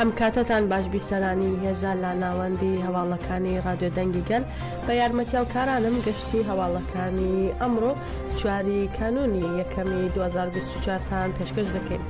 هەم کاتتان باش بیسەرانی هێژا لە ناوەندی هەواڵەکانی ڕادیۆ دەنگی گەل بە یارمەتی هەڵکارانم گەشتی هەواڵەکانی ئەمڕۆ چواری کانونی یەکەمی 2024 تان پێشکەش دەکەین.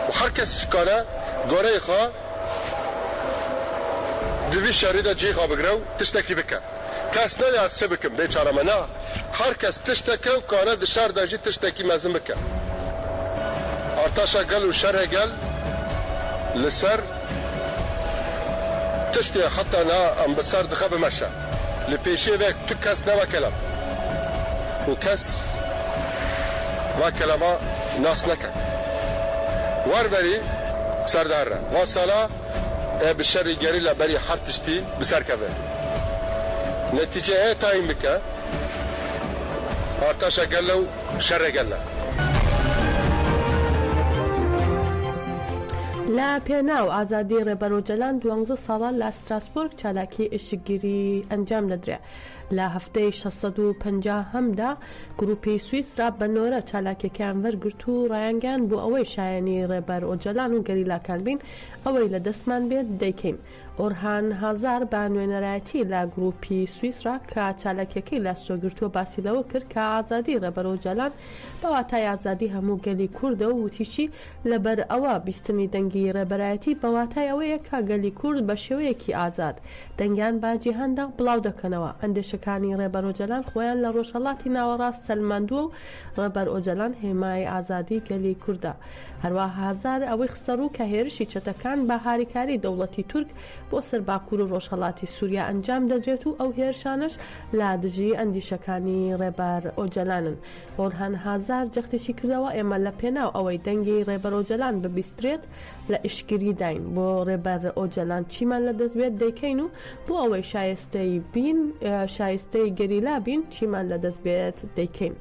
و هەر کەس کارە گۆرەی خۆ دوی شاری دا جێی خۆ بگرە و تشتەکی بکە. کەس نەویاز چ بکم بێ چارە مە نا هەر کەس تشتە کە و کانە دشار دە ژی تشتە کی مە زن بکە ئارتاشە گەل و شەرە گەل لە سەر تشتێ حتا نا ئەم بە سەر دخە بە مە شە لە پێشێ ڤێک تو کەس نە وە کە لەم و کەس وا کە لە مە ناس نە کە وەر بە ری سەر دار رە وا سالە ئێ بی شەری گەریلا بەری هەر تشتی بسەر کەڤێ نەتیجە ئێ تاین بکە ئارتاشە گەلە و شەرە گەلە. لە پێناو ئازادی ڕێبەر ئۆجەلان دوانزە ساڵە لە ستراسبۆرگ چالاکی ئێشکگیری ئەنجام دەدرێ. لە هەفتەی شەش سەد و پەنجا هەمدا گروپی سویسرا بە نۆرە چالاکیەکەیان وەرگرت و ڕایانگەیاند بۆ ئەوەی شایەنی ڕێبەر ئۆجەلان و گەریلاکان بین ئەوەی لە دەستمان بێت دەیکەین. ئۆرهان هازار بە نوێنەرایەتی لە گروپی سویسرا کە چالاکیەکەی لەاستۆگرتووە باسی لەوە کرد کە ئازادی ڕێبەر ئۆجەلان بە واتای ئازادی هەموو گەلی کوردە و وتیشی، لەبەر ئەوە بیستنی دەنگی ڕێبەرایەتی بە واتای ئەوەیە کە گەلی کورد بە شێوەیەکی ئازاد دەنگیان بە جیهاندا بڵاو دەکەنەوە. ئەندێشەکانی ڕێبەر ئۆجەلان خۆیان لە ڕۆژهەڵاتی ناوەڕاست سەلماندووە و ڕێبەر ئۆجەلان هێمای ئازادی گەلی کوردە. هەروا هازار ئەوەی خستە ڕوو کە هێرشی چەتەکان بە هاریکاری دەوڵەتی تورک بۆ سەر باکور و ڕۆژهەڵاتی سوریا ئەنجام دەدرێت و ئەو هێرشانەش لە دژی ئەندیشەکانی ڕێبەر ئۆجەلانن. ئۆرهان هازار جەختیشی کردەوە، ئێمە لە پێناو ئەوەی دەنگی رێبەر ئۆجەلان ببیسترێت لە ئیشکگریداین، بۆ رێبەر ئۆجەلان چیمان لە دەست بێت دەیکەین و بۆ ئەوەی شایستەی بین، شایستەی گەریلا بین چیمان لە دەست بێت دەیکەین.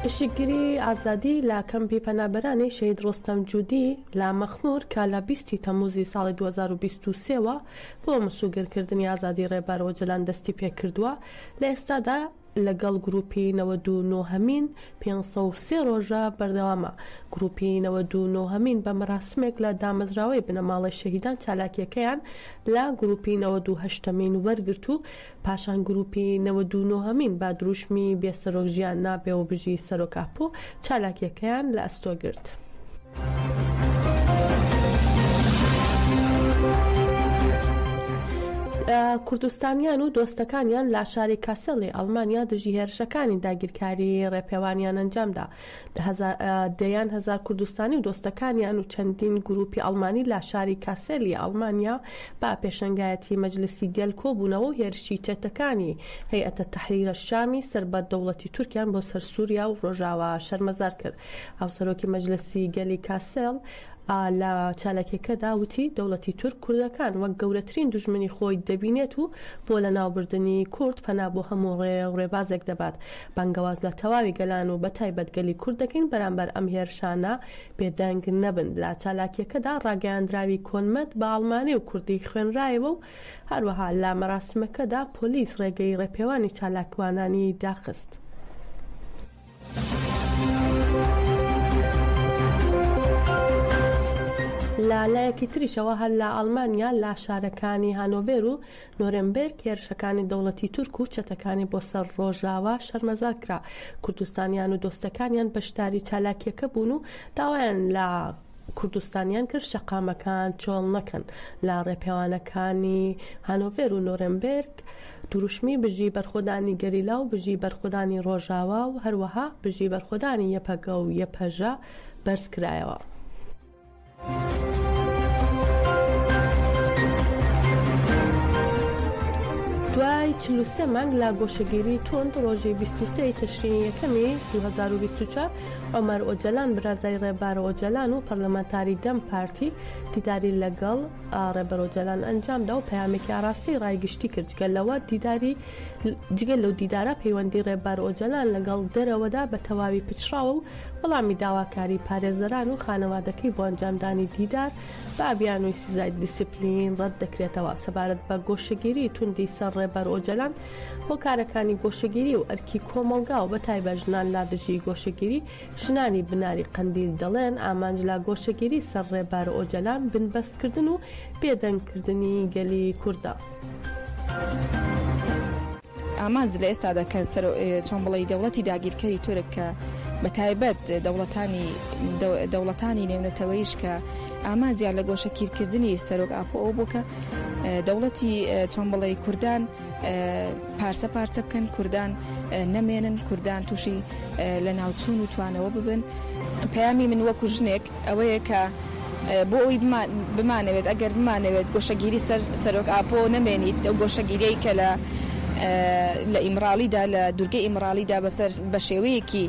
ئیشکگری ئازادی لە کەمپی پەنابەرانی شەهید رۆستەم جودی لە مەخمور کە لە بیست ی تەموزی ساڵی دوو هەزار و بیست و سێ وە، بۆ مسوگەرکردنی ئازادی ڕێبەر ئۆجەلان دەستی پێکردووە، لە ئێستادا لەگەڵ گروپی نەوەد و نۆ هەمین پێنج سەد و سێ ڕۆژە بەردەوامە، گروپی نەوەد و نۆ هەمین بە مەراسمێک لە دامەزراوەی بنەماڵەی شەهیدان چالاکیەکەیان لە گروپی نەوەد و هەشت هەمین وەرگرت و پاشان گروپی نەوەد و نۆ هەمین با دروشمی بێ سەرۆک ژیان نابێ و بژی سەرۆک ئاپۆ چالاکیەکەیان لە ئەستۆ گرت. کوردستانیان و دۆستەکانیان لە شاری کاسێڵی ئەڵمانیا دژی هێرشەکانی داگیرکاری ڕێپێوانیان ئەنجامدا. دەیان هەزار کوردستانی و دۆستەکانیان و چەندین گرووپی ئەڵمانی لە شاری کاسێل ی ئەڵمانیا بە پێشەنگایەتی مەجلسی گەل کۆبوونەوە و هێرشی چەتەکانی هەیئەتە تەحریر شامی سەر بە دەوڵەتی تورکیان بۆ سەر سووریا و ڕۆژاوا شەرمەزار کرد. هاوسەرۆکی مەجلسی گەلی کاسێڵ، لە چالاکیەکەدا وتی، دەوڵەتی تورک کوردەکان وەک گەورەترین دوژمنی خۆی دەبینێت و بۆ لەناوبردنی کورد پەنا بۆ هەموو ڕێ و ڕێبازێک دەبات. بانگەواز لە تەواوی گەلان و بە تایبەت گەلی کورد دەکەین بەرامبەر ئەم هێرشانە بێدەنگ نەبن. لە چالاکیەکەدا ڕاگەیاندراوی کۆنمەت بە ئاڵمانی و کوردی خوێنرایەوە و هەروەها لە مەراسمەکەدا پۆلیس ڕێگەی ڕێپێوانی چالاکوانانی داخست. لە لایەکی تریشەوە هەر لە ئاڵمانیا لە شارەکانی هانۆڤێر و نۆرێمبێرگ هێرشەکانی دەوڵەتی تورک و چەتەکانی بۆ سەر ڕۆژاوا شەرمەزار کرا، کوردستانیان و دۆستەکانیان بەشداری چالاکییەکە بوون و داوایان لە کوردستانیان کرد شەقامەکان چۆڵ نەکەن لە ڕێپێوانەکانی هانۆڤێر و نۆرێمبێرگ دروشمی بژی بەرخۆدانی گەریلا و بژی بەرخۆدانی ڕۆژاوا و هەروەها بژی بەرخۆدانی یەپەگە و یەپەژە بەرز کرایەوە. دوای چل و سێ مانگ لە گۆشەگیری توند ڕۆژی بیست و سێ ی تشرینی یەکەمی دوو هەزار و بیست و چوار، عومەر ئۆجەلان برازای ڕێبار ئۆجەلان و پەرلەمانتاری دەم پارتی دیداری لەگەڵ ڕێبەر ئۆجەلان ئەنجامدا و پەیامێکی ئاڕاستەی ڕای گشتی کرد، جگە لەوە دیداری جگە لەو دیدارە پەیوەندی ڕێبار ئۆجەلان لەگەڵ دەرەوەدا بە تەواوی پچڕاوە و وەڵامی داواکاری پارێزەران و خانەوادەکەی بۆ ئەنجامدانی دیدار بە بیانووی سزای دیسیپلین ڕەتدەکرێتەوە سەبارەت بە گۆشەگیری توندی سەر ڕێبەر ئۆجەلان هۆکارەکانی گۆشەگیری و ئەرکی کۆمەڵگا و بەتایبەت ژنان لا دژی گۆشەگیری، ژنانی بناری قەندیل دەڵێن، ئامانج لە گۆشەگیری سەر ڕێبەر ئۆجەلان بنبەستکردن و بێدەنگکردنی گەلی کوردە. ئامانج لە ئێستادا کە چۆن بڵێی دەوڵەتی داگیرکەری تورک کە بەتایبەت دەوڵەتانی دەوڵەتانی نێونەتەوەیش کە ئامانجیان لە گۆشەکیرکردنی سەرۆک ئاپۆ ئەو بوو کە دەوڵەتی چۆن بڵێ کوردان پارچە پارچە بکەن کوردان نەمێنن کوردان تووشی لە ناوچوون و توانەوە ببن پەیامی من وەکو ژنێک ئەوەیە کە بۆ ئەوی بمانەوێت ئەگەر بمانەوێت گۆشەگیری سەر سەرۆک ئاپۆ نەمێنیت ئەو گۆشەگیرەی کە لە لە ئیمراڵیدا لە دوورگە ئیمراڵیدا بەسەر بە شێوەیەکی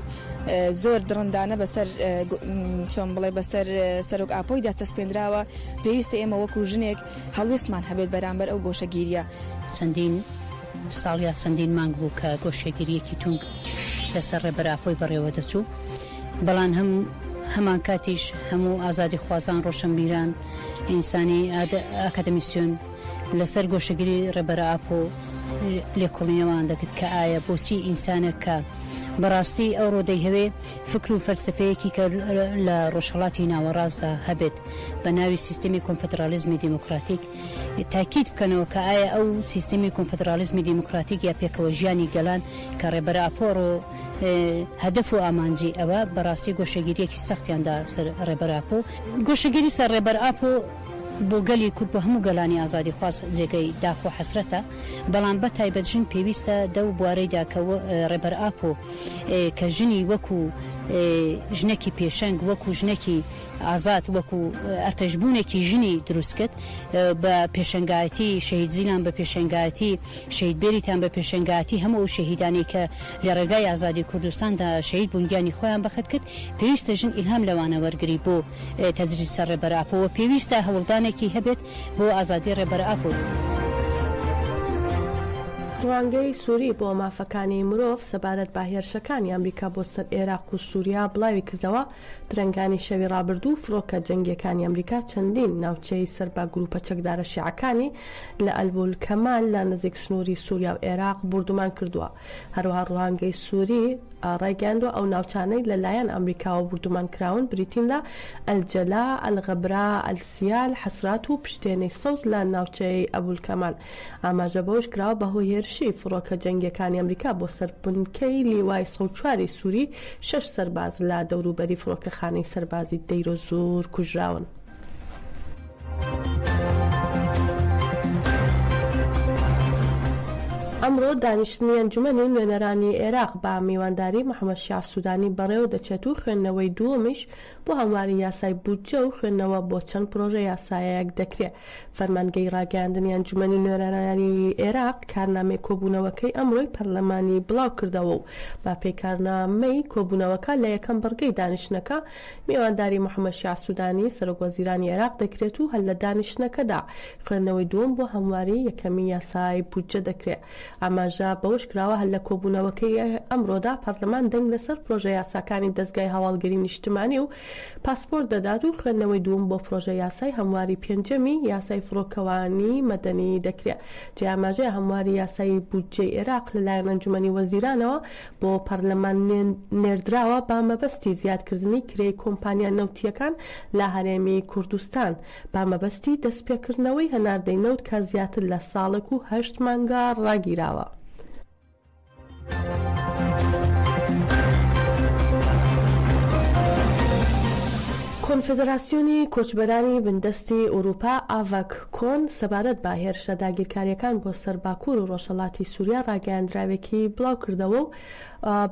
زۆر دڕندانە بەسەر چۆن بڵێ بەسەر سەرۆک ئاپۆیدا چەسپێنراوە پێویستە ئێمە وەکو ژنێک هەڵوێستمان هەبێت بەرامبەر ئەو گۆشەگیرییە. چەندین ساڵ یا چەندین مانگ بوو کە گۆشەگیرییەکی توند لەسەر ڕێبەر ئاپۆی بەڕێوە دەچوو، بەڵام هەم هەمانکاتیش هەموو ئازادیخوازان، ڕۆشنبیران، ئینسانی ئاکادمیسیون لەسەر گۆشەگیری ڕێبەر ئاپۆ لێکۆڵینەوەیان دەکرد کە ئایا بۆچی ئینسانێک کە بەڕاستی ئەوڕۆ دەیهەوێ فکر و فەلسەفەیەکی کە لە ڕۆژهەڵاتی ناوەڕاستدا هەبێت، بە ناوی سیستمی کۆنفدراڵیزمی دیموکراتیک تاکید بکەنەوە کە ئایا ئەو سیستمی کۆنفدراڵیزمی دیموکراتیک یا پێکەوەژیانی گەلان کە ڕێبەر ئاپۆرۆ هەدەف و ئامانجی ئەوە بە ڕاستی گۆشەگیریەکی سەختیان دا سەر ڕێبەر ئاپۆ گۆشەگیری سەر ڕێبەر ئاپۆ بۆ گەلی کورد بۆ هەموو گەلانی ئازادیخواز جێگەی داخ و حەسرەتە بەڵام بە تایبەت ژن پێویستە دەو بوارەیدا کە ڕێبەر ئاپۆ کە ژنی وەکو ژنەکی پێشەنگ وەکو ژنەکی ئازاد وەکو ئەرتەش بوونێکی ژنی دروست کرد بە پێشەنگایەتی شەهید زینان بە پێشەنگایەتی شەهید بێریتان بە پێشەنگایەتی هەموو ئەو شەهیدانی کە لە ڕێگای ئازادی کوردستاندا شەهید بوون گیانی خۆیان بەخت کرد پێویستە ژن ئیلهام لەوانە وەرگری بۆ تەجریدسە ڕێبەر ئاپۆ و پێویستە هەوڵدانێکی هەبێت بۆ ئازادی ڕێبەر ئاپۆ. ڕوانگەی سوری بۆ مافەکانی مرۆڤ سەبارەت بە هێرشەکانی ئەمریکا بۆ سەر ئێراق و سوریا بڵاویکردەوە، درەنگانی شەوی ڕابردوو فڕۆکە جەنگییەکانی ئەمریکا چەندین ناوچەی سەر بە گرووپە چەکدارە شیعەکانی لە ئەلبول کەمال لە نزیک سنووری سووریا و ئێراق بوردومان کردووە. هەروەها ڕوانگەی سووری ڕایگەیاندووە ئەو ناوچانەی لە لایەن ئەمریکاوە بوردومان کراون بریتین لە ئەلجەلا، ئەلغەبرا، ئەلسیال، حەسرات و پشتێنەی سەوز لە ناوچەی ئەبول کەمال. ئاماژە بەوەش کراوە، بەهۆی هێرشی فڕۆکە جەنگییەکانی ئەمریکا بۆ سەر بنکەی لیوای سەد و چوار ی سووری، شەش سەرباز لە دەوروبەری فڕۆکەخانەی سەربازی دەیرۆزوور کوژراون. ئەمڕۆ دانیشتنی ئەنجومەنی نوێنەرانی عێراق بە میوانداری محەمەد شیاع سوودانی بەڕێوە دەچێت و خوێندنەوەی دووەمیش بۆ هەمواری یاسای بودجە و خوێندنەوە بۆ چەند پرۆژە یاسایەک دەکرێ فەرمانگەی ڕاگەیاندنی ئەنجومەنی نوێنەرانی ئێراق کارنامەی کۆبوونەوەکەی ئەمڕۆی پەرلەمانی بڵاو کردەوە و بە پێی کارنامەی کۆبوونەوەکە لە یەکەم بڕگەی دانیشتنەکە میوانداری محەمەد شیاع سودانی سەرۆک وەزیرانی ئێراق دەکرێت و هەر لە دانیشتنەکەدا خوێندنەوەی دووەم بۆ هەمواری یەکەمی یاسای بودجە دەکرێ. ئاماژە بەوەشکراوە، هەر لە کۆبوونەوەکەی ئەمڕۆدا پەرلەمان دەنگ لەسەر پرۆژە یاساکانی دەزگای هەواڵگری نیشتمانی و پاسپۆرت دەدات و خوێندنەوەی دووم بۆ پرۆژە یاسای هەمواری پێنجەمی یاسای فڕۆکەوانی مەدەنی دەکرێت جێی ئاماژەیە هەمواری یاسای بودجەی ئێراق لەلایەن ئەنجومەنی وەزیرانەوە بۆ پەرلەمان نێردراوە بە مەبەستی زیادکردنی کرێی کۆمپانیا نەوتییەکان لە هەرێمی کوردستان. بە مەبەستی دەستپێکردنەوەی هەناردەی نەوت کە زیاتر لە ساڵێک و هەشت مانگە ڕاگیراوە. کۆنفدراسیۆنی کۆچبەرانی بندەستی ئورووپا، ئاڤەک کۆن، سەبارەت بە هێرشە داگیرکارییەکان بۆ سەر باکوور و ڕۆژهەڵاتی سووریا ڕاگەیاندراوێکی بڵاوکردەوە و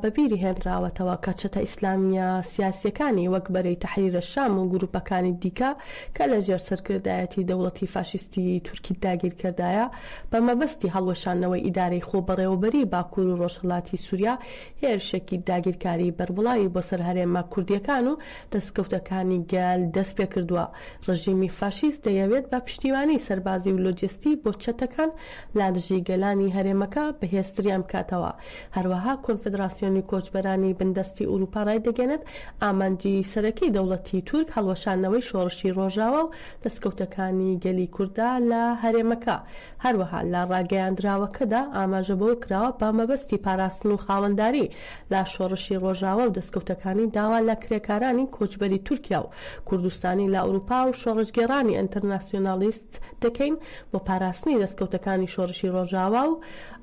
بە بیری هێنراوەتەوە کە چەتە ئیسلامییە سیاسییەکانی وەک بەرەی تەحریرە شام و گرووپەکانی دیکە کە لە ژێر سەرکردایەتی دەوڵەتی فاشیستی تورکی داگیرکەردایە بە مەبەستی هەڵوەشاندنەوەی ئیدارەی خۆبەڕێوەبەریی باکوور و ڕۆژهەڵاتی سووریا هێرشێکی داگیرکاریی بەربڵاوی بۆ سەر هەرێمە کوردییەکان و دەستکەوتەکانی گەل دەست پێ کردووە. ڕژیمی فاشیست دەیەوێت بە پشتیوانیی سەربازی و لۆجستی بۆ چەتەکان لادژی گەلانی هەرێمەکە بەهێزتریان بکاتەوە هەروەها کۆنفدراسیۆنی کۆچبەرانی بندەستی ئورووپا ڕایدەگەیەنێت، ئامانجی سەرەکی دەوڵەتی تورک هەڵوەشاندنەوەی شۆڕشی ڕۆژاوا و دەستکەوتەکانی گەلی کوردە لە هەرێمەکە. هەروەها لە ڕاگەیاندراوەکەدا ئاماژە بەوە کراوە، بە مەبەستی پاراستن و خاوەنداری لە شۆڕشی ڕۆژاوا و دەستکەوتەکانی داوا لە کرێکارانی کۆچبەری تورکیا و کوردستانی لە ئورووپا و شۆڕشگێڕانی ئینترناسیۆنالیست دەکەین بۆ پاراستنی دەستکەوتەکانی شۆرشی ڕۆژاوا و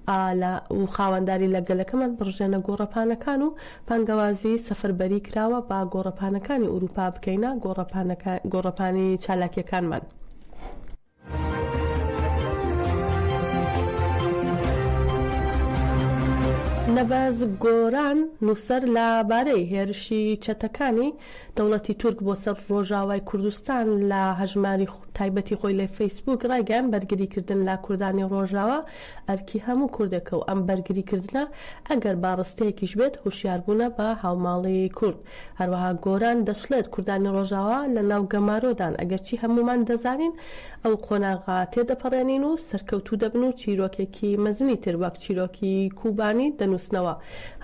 ئالە و خاوەنداری لە گەلەکەمان بڕژێنە گۆڕەپانەکان و بانگەوازی سەفەربەری کراوە با گۆڕەپانەکانی ئوروپا بکەینە گۆڕەپانی چالاکیەکانمان. نەبەز گۆران نووسەر لە بارەی هێرشی چەتەکانی دەوڵەتی تورک بۆ سەر ڕۆژاوای کوردستان لە هەژماری تایبەتی خۆی لە فەیسبووک ڕایگەیاند بەرگری کردن لە کوردانی ڕۆژاوا ئەرکی هەموو کوردێکە و ئەم بەرگری کردنە ئەگەر با ڕستەیەکیش بێت هۆشیار بوونە بە هاوماڵی کورد. هەروەها گۆران دەشڵێت کوردانی ڕۆژاوا لە ناو گەمارۆدان ئەگەرچی هەموومان دەزانین ئەو قۆناغە تێدەپەڕێنین و سەرکەوتوو دەبن و چیرۆکێکی مەزنی تر وەک چیرۆکی کوبانی دەنووسنەوە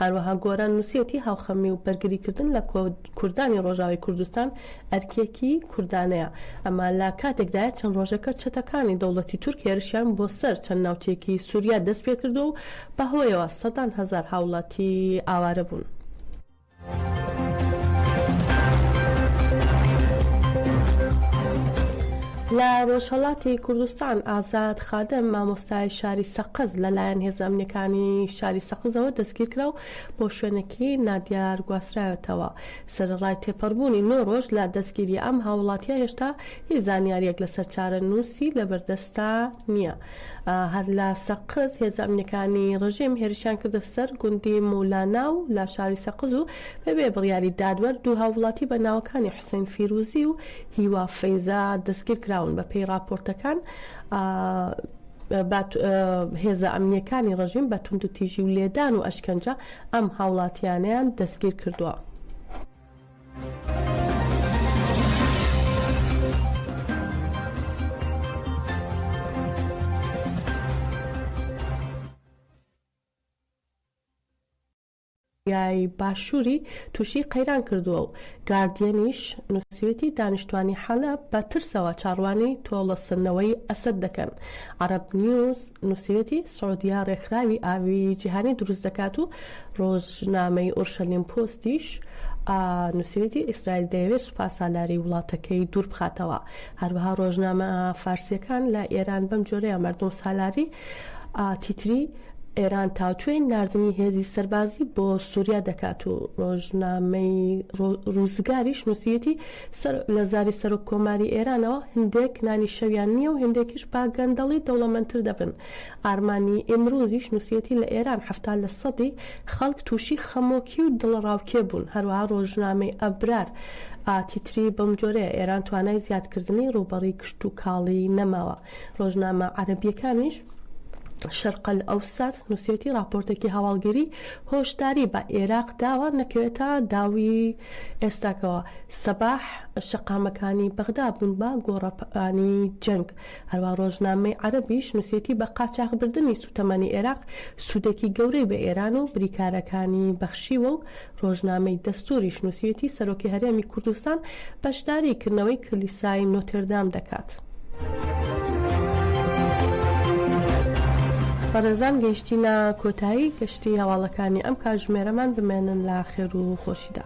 هەروەها گۆران نووسیەتی هاوخەمی و بەرگریکردن لە کوردانی ڕۆژاوای کوردستان ئەرکێکی کوردانەیە، ئەمە لە کاتێکدایە چەند ڕۆژێکە چەتەکانی دەوڵەتی تورک هێرشیان بۆ سەر چەند ناوچەیەکی سوریا دەستپێکردووە و بەهۆیەوە سەدان هەزار هاوڵاتی ئاوارەبوون. لە ڕۆژهەڵاتی کوردستان، ئازاد خادم، مامۆستای شاری سەقز لەلایەن هێزە ئەمنیەکانی شاری سەقزەوە دەستگیرکرا و بۆ شوێنێکی نادیار گواسترایەتەوە. سەرەڕای تێپەڕبوونی نۆ ڕۆژ لە دەستگیری ئەم هاووڵاتییە هێشتا هیچ زانیارییەک لەسەر چارەنووسی لەبەردەست ئێستا نییە. هەر لە سەقز هێزە ئەمنییەکانی ڕژیم هێرشیان کردە سەر گوندی مولانا و لە شاری سەقز و بەبێ بڕیاری دادوەر دوو هاووڵاتی بە ناوەکانی حوسێن فیرووزی و هیوا فەیزە دەستگیر کراون بەپێی ڕاپۆرتەکان هێزە ئەمنییەکانی ڕژیم بە توندوتیژی و لێدان و ئەشکەنجە ئەم هاوڵاتییانەیان دەستگیر کردووە. کۆریای باشووری تووشی قەیران کردووە و گاردیەنیش نووسیوێتی دانیشتوانی حەلەب بە ترسەوە چاڕوانی تۆڵەسنەوەی ئەسەد دەکەن عەرەب نیوز نووسیوێتی سعودیە ڕێکخراوی ئاویی جیهانی دروست دەکات و ڕۆژنامەی ئورشەلیم پۆستیش نووسیویەتی ئیسرائیل دەیەوێت سوپاسالاری وڵاتەکەی دوور بخاتەوە. هەروەها ڕۆژنامە فارسییەکان لە ئێران بەم جۆرەیە مەردومسالاری تیتری ئێران تاوتوێی ناردنی هێزی سەربازی بۆ سووریا دەکات و ڕۆژنامەی ڕووزگاریش نووسیویەتی لە زاری سەرۆک کۆماری ئێرانەوە هندێک نانی شەویان نیە و هندێکیش با گەندەڵی دەوڵەمەنتر دەبن ئارمانی ئیمروزیش نوسیەتی لە ئێران حەفتا لە سەدی خەڵک توشی خەمۆکی و دڵەڕاوکێ بون هەروەها ڕۆژنامەی ئەبرار ئا تیتری بەمجۆرەیە ئێران توانای زیادکردنی ڕوبەڕی کشتوکاڵی نەماوە ڕۆژنامە عەرەبییەکانیش شەرق ئەلئەوسەت نووسیویەتی ڕاپۆرتێکی هەواڵگری هۆشداری بە ئێراق داوە نەکەوێتە داوی ئێستاکەوە سەباح شەقامەکانی بەغدا بوون بە گۆڕەپانی جەنگ هەروا ڕۆژنامەی عەرەبیش نووسیویەتی بە قاچاخبردنی سووتەمەنی ئێراق سوودێکی گەورەی بە ئێران و بریکارەکانی بەخشیوە و ڕۆژنامەی دەستووریش نووسیویەتی سەرۆکی هەرێمی کوردستان بەشداریی کردنەوەی کلیسای نۆتردام دەکات. بەڕێزان گەیشتینە کۆتایی گەشتی هەواڵەکانی ئەم کاژمێرەمان بمێنن لە خێر و خۆشیدا.